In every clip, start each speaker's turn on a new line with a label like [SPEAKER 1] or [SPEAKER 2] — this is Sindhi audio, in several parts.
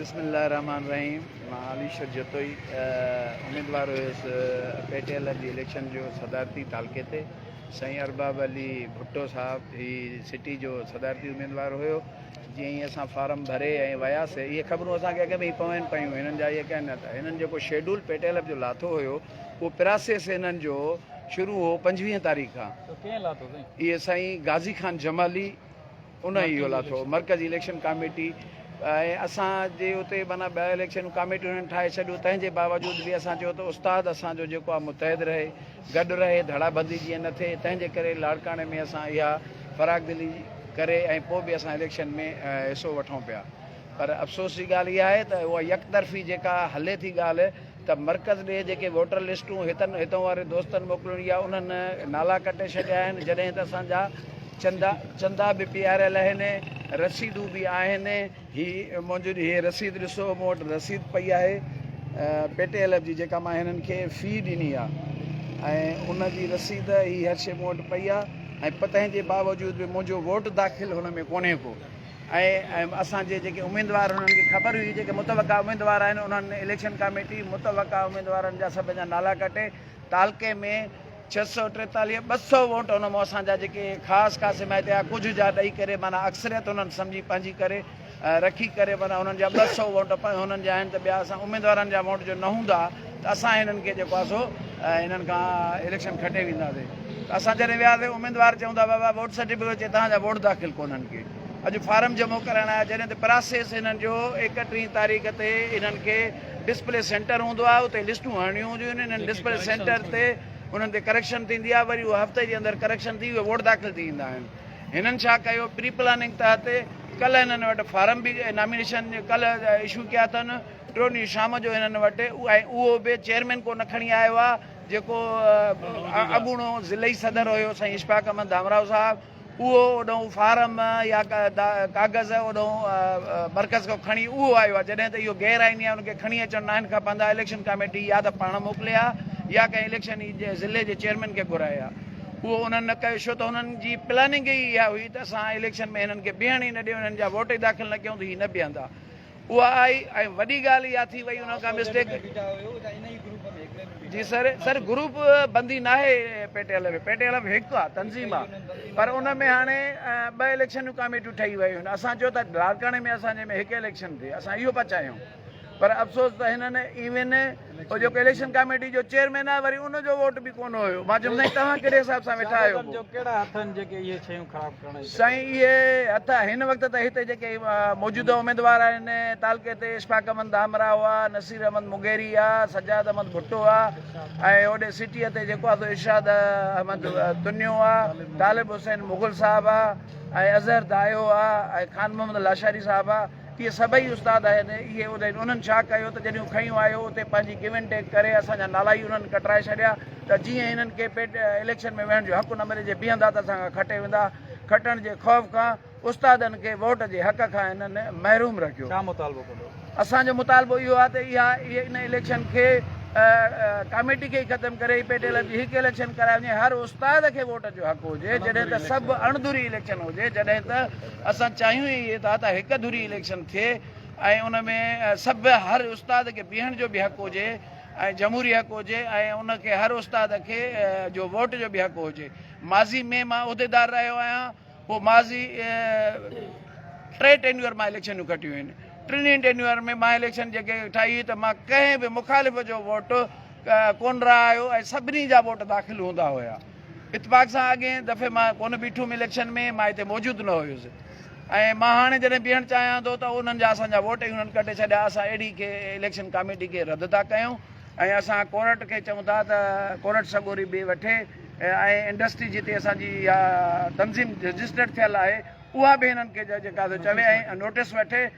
[SPEAKER 1] بسم الله الرحمٰن الرحيم مان علي شر جتوئي اميدوار هيس پي ٽي ايل جي اليڪشن جو صدارتي تعلقي تي سائين ارباب علي ڀٽو صاحب هي سٽي جو صدارتي اميدوار هيو جي هي اسان فارم ڀري ۽ وياسي هي خبرون اسان کي اڳ ۾ پوين پيون هنن جا هي ڪين نه هنن جيڪو شيڊول پي ٽي ايل جو لاٿو هيو اهو پراسيس انهن جو شروع هو پنجويهه تاريخ کان. اهو ڪنهن لاٿو سائين؟ اهي سائين غازي خان جمالي ان ئي اهو لاٿو مرڪزي اليڪشن ڪاميٽي ۽ اسان جي اتي معنيٰ ٻه اليڪشنون ڪاميٽيون هنن ٺاهي ڇڏيون تنهن جي باوجود به اسان چيو ته استاد اسان جو جيڪو آهي متحد رهي گڏ رهي ڌڙا بندي جيئن نه ٿئي تنهن جي ڪري لاڙڪاڻي ۾ اسان اها فراخ دلي ڪري ۽ پوء به اسان اليڪشن ۾ حصو وٺون پيا پر افسوس جي ڳالهه اها آهي ته اها يڪطرفي جيڪا هلي ٿي ڳالهه ته مرڪز ڏي جيڪي ووٽر لسٽون هتن هتون واري دوستن موڪلڻي آ انهن نالا ڪٽي ڇڏيا آهن جڏهن ته اسان جا چندا چندا به پياريل اهن رسيدون به آهن هي منهنجو هي رسيد ڏسو مون وٽ رسيد پئي آهي پيٽي ايل ايف جي جيڪا مان هنن کي في ڏني آ ۽ ان جي رسيد هي هر شي مون وٽ پئي آ ۽ پتنهن جي باوجود به منهنجو ووٽ داخل هن ۾ ڪونهي ڪو ۽ اسان جي جيڪي اميدوار انهن کي خبر هئي جيڪي متوقع اميدوار آهن انهن اليڪشن ڪاميٽي متوقع اميدوارن جا سڀ جا نالا ڪٽي تعلقي ۾ ڇهه سؤ ٽيتاليهه ٻه سؤ ووٽ ان مون اسان جا جيڪي خاص خاص حمايتي آ ڪجهه جا ڏئي ڪري مانا اڪثريت انهن سمجهي پنهنجي ڪري رکي ڪري مانا انهن جا ٻه سؤ ووٽ انهن جا آهن ته ٻيا اسان اميدوارن جا ووٽ جو نه هوندا ته اسان هنن کي جيڪو آهي سو هنن کان اليڪشن کٽي وينداسين ته اسان جڏهن وياسين اميدوار چون ٿا بابا ووٽ سرٽيفڪيٽ چي توهان جا ووٽ داخل ڪونهن ڪي اڄ فارم جمع ڪرائڻ آيا جڏهن ته پراسيس هنن جو ايڪٽيهين تاريخ تي هنن کي ڊسپلي سينٽر هوندو آهي اتي لسٽون هڻڻيون هونديون آهن هنن ڊسپلي سينٽر تي انهن تي ڪريڪشن ٿيندي آهي وري اهو هفتي جي اندر ڪريڪشن ٿي اهي ووٽ داخل ٿي ويندا آهن هنن ڇا ڪيو پري پلاننگ تحت ڪلهه هنن وٽ فارم به نامينيشن ڪلهه اشو ڪيا اٿن ٽيون ڏينهن شام جو هنن وٽ ۽ اهو به چيئرمين ڪو نه کڻي آيو آ جيڪو اڳوڻو ضلعي صدر هيو سائين اشفاق احمد ڌامراهو صاحب اهو اوڏانهن فارم يا ڪاغذ اوڏانهن مرڪز کان کڻي اهو آيو آ جڏهن ته اهو غير آئيني آ ان کي کڻي اچڻ ناهن کپندا اليڪشن ڪاميٽي يا ته پاڻ موڪلي آ يا ڪنهن اليڪشن جي ضلعي جي چيئرمين کي گهرائي آ اهو انهن نه ڪيو شو ته انهن جي پلاننگ ئي اها هئي ته اسان اليڪشن ۾ هنن کي بيهڻ ئي نه ڏيون هنن جا ووٽ ئي داخل نه ڪيون ته هي نه بيهندا اها آئي ۽ وڏي ڳالهه اها ٿي وئي ان کان مسٽيڪ جي سر سر گروپ بندي ناهي P T L F P T L F هڪ آ تنظيم آ پر ان ۾ هاڻي ٻه اليڪشن جون ڪاميٽيون ٺهي ويون آهن اسان چيو ته لاڙڪاڻي ۾ اسان جي ۾ هڪ اليڪشن ٿئي اسان اهو پچايون پر افسوس ته هنن ايون هو جيڪو اليڪشن ڪاميٽي جو چيئرمين آهي وري ان جو ووٽ به ڪونه هيو مان چيم سائين توهان ڪهڙي حساب سان ويٺا آهيو سادن جو ڪهڙا هٿ آهن جيڪي اهي شيون خراب ڪرڻ جي سائين اهي هٿ هن وقت ته هتي جيڪي موجوده اميدوار آهن تعلقي تي اشفاق احمد دامرا هئا نصير احمد مغيري آ سجاد احمد ڀٽو آ ۽ هوڏي سٽيء تي جيڪو آهي ارشاد احمد تنيو آ طالب حسين مغل صاحب آ ۽ اظهر دايو آ ۽ خان محمد لاشاري صاحب آ اهي سڀئي استاد آهن، اهي اهدين انهن ڇا ڪيو ته جڏهن هو کنيون آيو اتي پنهنجي گيو اينڊ ٽيڪ ڪري اسان جا نالا ئي انهن ڪٽرائي ڇڏيا ته جيئن هنن کي پيٽ اليڪشن ۾ ويهڻ جو حق نه ملي جي بيهندا ته اسان کان کٽي ويندا کٽڻ جي خوف کان استادن کي ووٽ جي حق کان هنن محروم رکيو. ڇا مطالبو ڪندو؟ اسان جو مطالبو اهو آهي ته اها ان اليڪشن کي ڪاميٽي کي ئي ختم ڪري هي پيٽ اليڪشن هڪ اليڪشن ڪرائي وڃي هر استاد کي ووٽ جو حق هجي جڏهن ته سڀ اڻ ڌري اليڪشن هجي جڏهن ته اسان چاهيون ئي اهي ٿا ته هڪ ڌري اليڪشن ٿئي ۽ ان ۾ سڀ هر استاد کي بيهڻ جو به حق هجي ۽ جمهوري حق هجي ۽ ان کي هر استاد کي جو ووٽ جو به حق هجي ماضي ۾ مان عهديدار رهيو آهيان پوء ماضي ٽي ٽينيور مان اليڪشنون کٽيون آهن ٽنهي ٽينيور ۾ مان اليڪشن جيڪي ٺاهي هئي ته مان ڪنهن به مخالف جو ووٽ ڪون رهايو ۽ سڀني جا ووٽ داخل هوندا هيا اتفاق سان اڳئين دفعي مان ڪونه بيٺم اليڪشن ۾ مان هتي موجود نه هيس ۽ مان هاڻي جڏهن بيهڻ چاهيان ٿو ته انهن جا اسان جا ووٽ ئي انهن ڪٽي ڇڏيا اسان اهڙي کي اليڪشن ڪاميٽي کي رد ٿا ڪيون ۽ اسان ڪورٽ کي چون ٿا ته ڪورٽ سڳوري به وٺي ۽ انڊسٽري جتي اسان جي اها تنظيم رجسٽرڊ ٿيل آهي اها به هنن کي جيڪا چوي ۽ نوٽس وٺي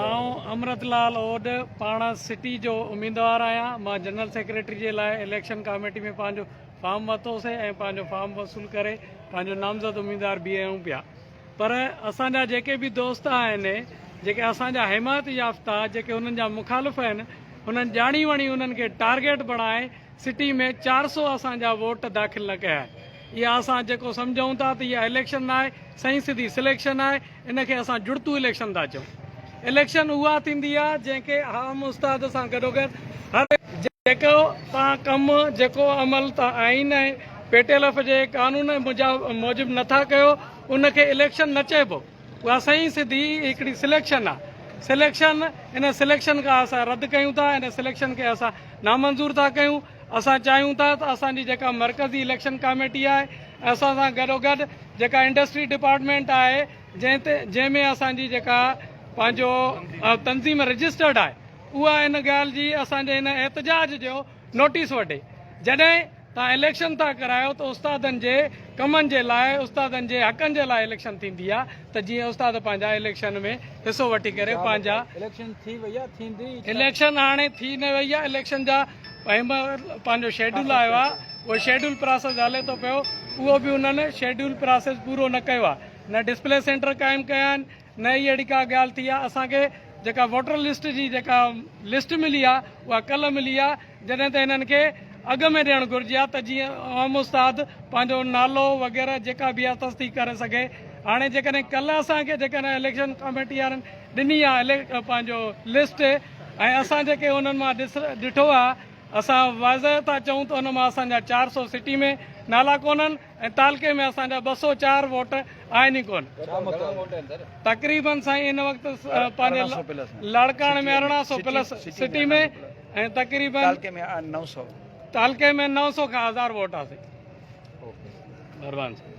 [SPEAKER 2] آئون امرت لال اوڏ پاڻ سٽي جو اميدوار آهيان مان جنرل سيڪريٽري جي لاء اليڪشن ڪاميٽي ۾ پنهنجو فارم ورتو سي ۽ پنهنجو فارم وصول ڪري پنهنجو نامزد اميدوار بيهيون پيا پر اسان جا جيڪي به دوست آهن جيڪي اسان جا حمايت يافته جيڪي انهن جا مخالف آهن انهن ڄاڻي وڻي انهن کي ٽارگيٽ بڻائي سٽي ۾ چار سو اسان جا ووٽ داخل نه ڪيا اها اسان جيڪو سمجهون ٿا ته اها اليڪشن ناهي سائين سڌي سليڪشن آهي ان کي اسان جڙتو اليڪشن ٿا چئون اليڪشن اها ٿيندي آهي جنهن کي عام استاد سان گڏوگڏ هر جيڪو توهان ڪم جيڪو عمل توهان آئين ۽ پيٽيلف جي قانون موجب نه ٿا ڪيو ان کي اليڪشن نه چئبو اها سائين سڌي هڪڙي سليڪشن آهي سليڪشن ان سليڪشن کان اسان رد ڪيون ٿا ان سليڪشن کي اسان نامنظور ٿا ڪيون. اسان چاهيون ٿا ته اسان جي جيڪا مرڪزي اليڪشن ڪاميٽي آهي ۽ اسان سان گڏوگڏ جيڪا انڊسٽري ڊپارٽمينٽ آهي جنهن تي جنهن ۾ اسان جي جيڪا پنهنجو تنظيم رجسٽرڊ آهي اها ان ڳالهه جي اسان جي هن احتجاج جو نوٽيس وٺي جڏهن تان اليڪشن ٿا ڪرايو ته استادن جي ڪمن جي لاء استادن جي حقن جي لاء اليڪشن ٿيندي آ ته جيئن استاد پنهنجا اليڪشن ۾ حصو وٺي ڪري پنهنجا اليڪشن ٿي وئي آ ٿيندي اليڪشن هاڻي ٿي نه وئي آ اليڪشن جا پيمر پنهنجو شيڊول آيو آهي اهو شيڊول پراسيس هلي ٿو پيو اهو به انهن شيڊول پراسيس پورو نه ڪيو آهي نه ڊسپلي سينٽر قائم ڪيا آهن نه ئي اهڙي ڪا ڳالهه ٿي آهي اسان کي جيڪا ووٽر لسٽ جي جيڪا لسٽ ملي آهي اها ڪلهه ملي آهي جڏهن ته هنن کي اڳ ۾ ڏيڻ گهرجي ها ته جيئن عام استاد پنهنجو نالو وغيره جيڪا به آهي تصديق ڪري سگهي هاڻي جيڪڏهن ڪلهه اسان کي جيڪڏهن اليڪشن ڪاميٽي وارن ڏني آهي پنهنجو لسٽ ۽ اسان جيڪي انهن مان ڏٺو آهي اسان واضح ٿا چئون ته ان مان اسان جا چار سؤ سٽي ۾ نالا ڪونهن ۽ تعلقي ۾ اسان جا ٻه سؤ چار ووٽ آهن ئي ڪونهن. تقريبن سائين ان وقت پنهنجي لاڙڪاڻي ۾ ارڙهن سؤ پلس سٽي ۾ ۽ تقريبن تعلقي ۾ نو سؤ تعلقي ۾ نو سؤ کان هزار ووٽ آسي. مهربان سائين.